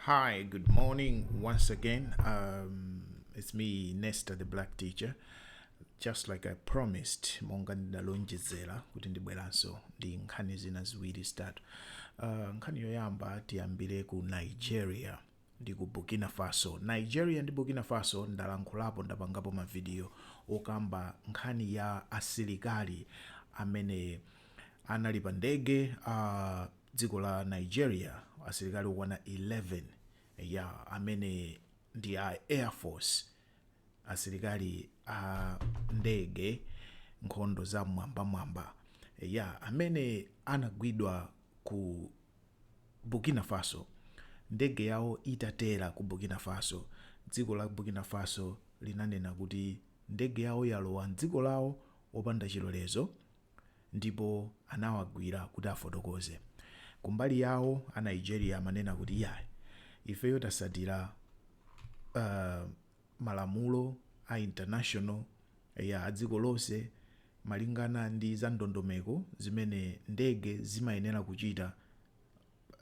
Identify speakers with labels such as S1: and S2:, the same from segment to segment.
S1: Hi, good morning once again. Um, it's me, Nesta, the black teacher. Just like I promised, monga ndidalonjezera kuti ndibweranso ndi nkhani zina ziwiri zitatu. Uh, nkhani yoyamba tiyambire ku Nigeria ndi ku Burkina Faso. Nigeria ndi Burkina Faso ndalankhulapo ndapangapo mavidiyo okamba nkhani ya asilikali amene anali pa ndege uh, dziko la Nigeria asilikali okwana 11 eya amene ndi a air force asilikali a ndege nkhondo za mwambamwamba eya amene anagwidwa ku Burkina Faso ndege yawo itatera ku Burkina Faso dziko la Burkina Faso linanena kuti ndege yawo yalowa mdziko lawo opanda chilolezo ndipo anawagwira kuti afotokoze. Kumbali yawo a Nigeria amanena kuti iyayi ifeyo tatsatira uh, malamulo a international a dziko lonse malingana ndi za ndondomeko zimene ndege zimayenera kuchita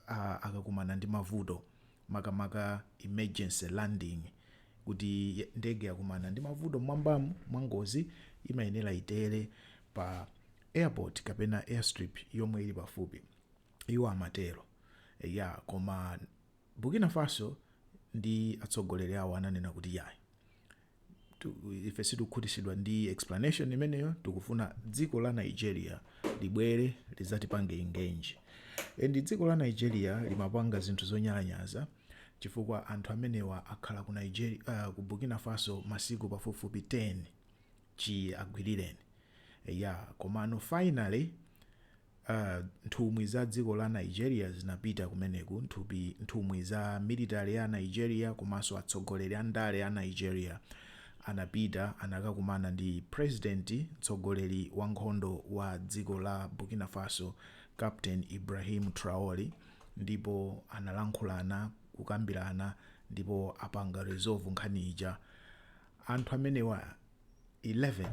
S1: a akakumana ndi mavuto makamaka emergency landing kuti ye- ndege yakumana ndi mavuto mwambamu mwa ngozi imayenera itere pa airport kapena airstrip yomwe ili pafupi iwo amatero ya koma burkina faso ndi atsogoleri awo ananena kuti yayi tu- ife sitikukhutitsidwa ndi explanation imeneyo tikufuna dziko la nigeria libwere lidzatipange engage and dziko la nigeria limapanga zinthu zonyalanyaza chifukwa anthu amenewa akhala ku, nigeria, uh, ku burkina faso masiku pafupifupi 10 chiwagwirireni ya komano finally a nthumwi za dziko la Nigeria zinapita kumeneku nthupi nthumwi za military ya Nigeria komanso atsogoleri a ndale a Nigeria anapita anakakumana ndi president mtsogoleri wa nkhondo wa dziko la Burkina Faso Captain Ibrahim Traore ndipo analankhulana kukambirana ndipo apanga resolve nkhani ija anthu amenewa 11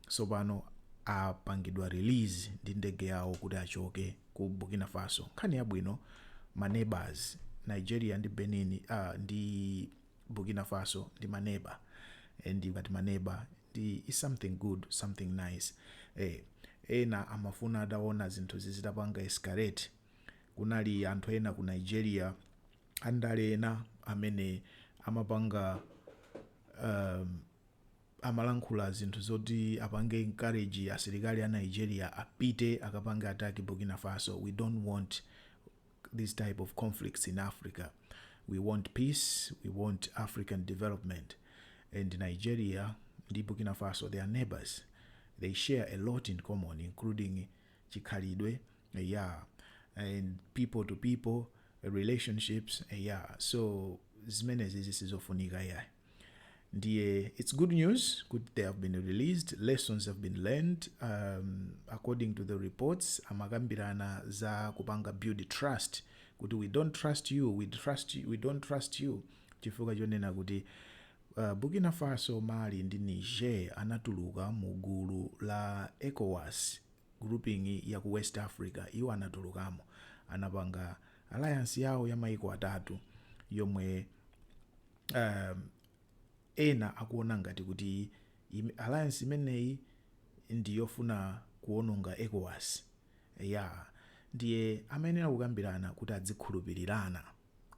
S1: tsopano apangidwa release ndi ndege yawo kuti achoke ku burkina faso nkhani yabwino ma neighbors nigeria ndi benin ah, ndi burkina faso ndi ma neighbor and ngati ma neighbor ndi is something good something nice eh, ena amafuna ataona zinthu zizitapanga escalate kunali anthu ena ku nigeria andale ena amene amapanga um, amalankhula zinthu zoti apange encourage asilikali a Nigeria apite akapange attack Burkina Faso, we don't want these type of conflicts in Africa, we want peace, we want African development and Nigeria ndi Burkina Faso they are neighbors, they share a lot in common including chikhalidwe yeah and people to people relationships yeah so zimenezi zisizofunika yayi. ndiye its good news kuti they have been released lessons have been learned um, according to the reports amakambirana za kupanga build trust kuti we don't trust you we, don't trust you, we don't trust you chifukwa chonena kuti uh, burkina faso mali ndi niger anatuluka mu gulu la ecowas grouping ya ku west africa iwo anatulukamo anapanga alliance yawo ya maiko atatu yomwe um, ena akuona ngati kuti im- alliance imeneyi ndi yofuna kuononga ecowas ya ndiye amayenera kukambirana kuti adzikhulupirirana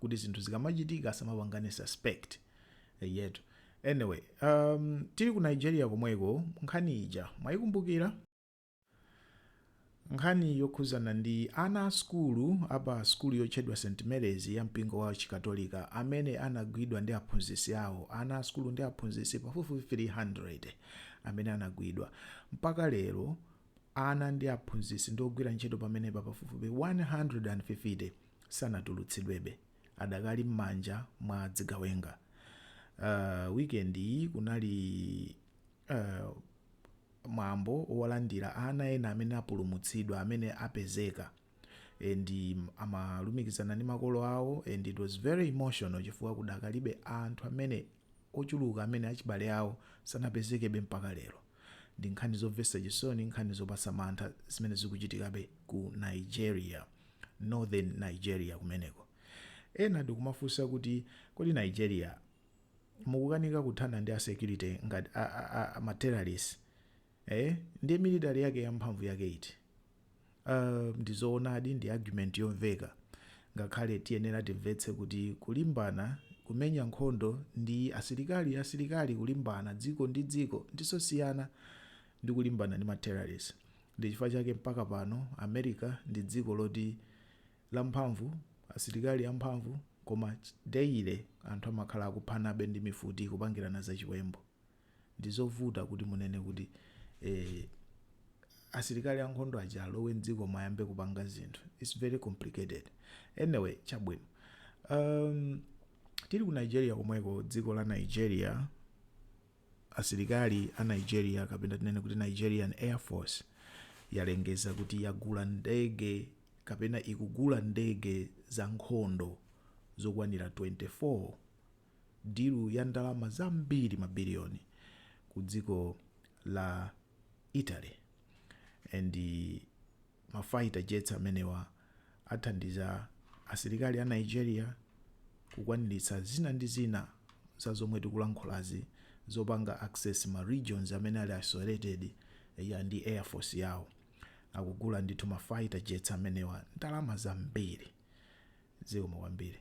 S1: kuti zinthu zikamachitika asamapangane suspect Eh, yetu anyway um, tili ku nigeria komweko nkhani ija mwayikumbukira Nkhani yokhudzana ndi ana a sukulu a pa sukulu yotchedwa St Mary's ya mpingo wa Chikatolika amene anagwidwa ndi aphunzitsi awo, ana a sukulu ndi aphunzitsi pafupifupi 300 amene anagwidwa. Mpaka lero, ana ndi aphunzitsi ndi ogwira ntchito pamenepa pafupifupi 150 sanatulutsidwebe, adakali m'manja mwa zigawenga. Uh, weekend iyi kunali. mwambo wolandira ana ena amene apulumutsidwa amene apezeka and amalumikizana ndi makolo awo and it was very emotional chifukwa kudakalibe anthu amene ochuluka amene achibale awo sanapezekebe mpaka lero ndi nkhani zomvetsa chisoni nkhani zopatsa mantha zimene zikuchitikabe ku nigeria northern nigeria kumeneko ena ndikumafunsa kuti kodi nigeria mukukanika kuthana ndi a security ngati a, a, a, a ma terrorists eh ndi military yake ya mphamvu yake iti uh, ndizoonadi ndi argument yomveka ngakhale tiyenera timvetse kuti kulimbana kumenya nkhondo ndi asilikali asilikali kulimbana dziko ndi dziko ndizosiyana ndi kulimbana ndi ma terrorists ndi chifukwa chake mpaka pano america ndi dziko loti lamphamvu, asilikali amphamvu, koma daily anthu amakhala akuphanabe ndi mifuti kupangirana za chiwembu. Ndi zovuta kuti munene kuti eh asilikali ankhondo aja alowe m'dziko mu ayambe kupanga zinthu. It's very complicated. Anyway, chabwino. Um, tili ku Nigeria komweko, dziko la Nigeria, Asilikali a Nigeria kapena tinene kuti Nigerian Air Force yalengeza kuti yagula ndege kapena ikugula ndege za nkhondo zokwanira 24, dilu ya ndalama zambiri mabiliyoni, ku dziko la Italy and. Ma fighter jets amenewa athandiza asilikali a Nigeria kukwaniritsa zina ndi zina za zomwe tikulankhulazi zopanga access ma regions amene ali isolated eya ndi air force yawo akugula ndithu ma fighter jets amenewa ndalama zambiri zikomo kwambiri.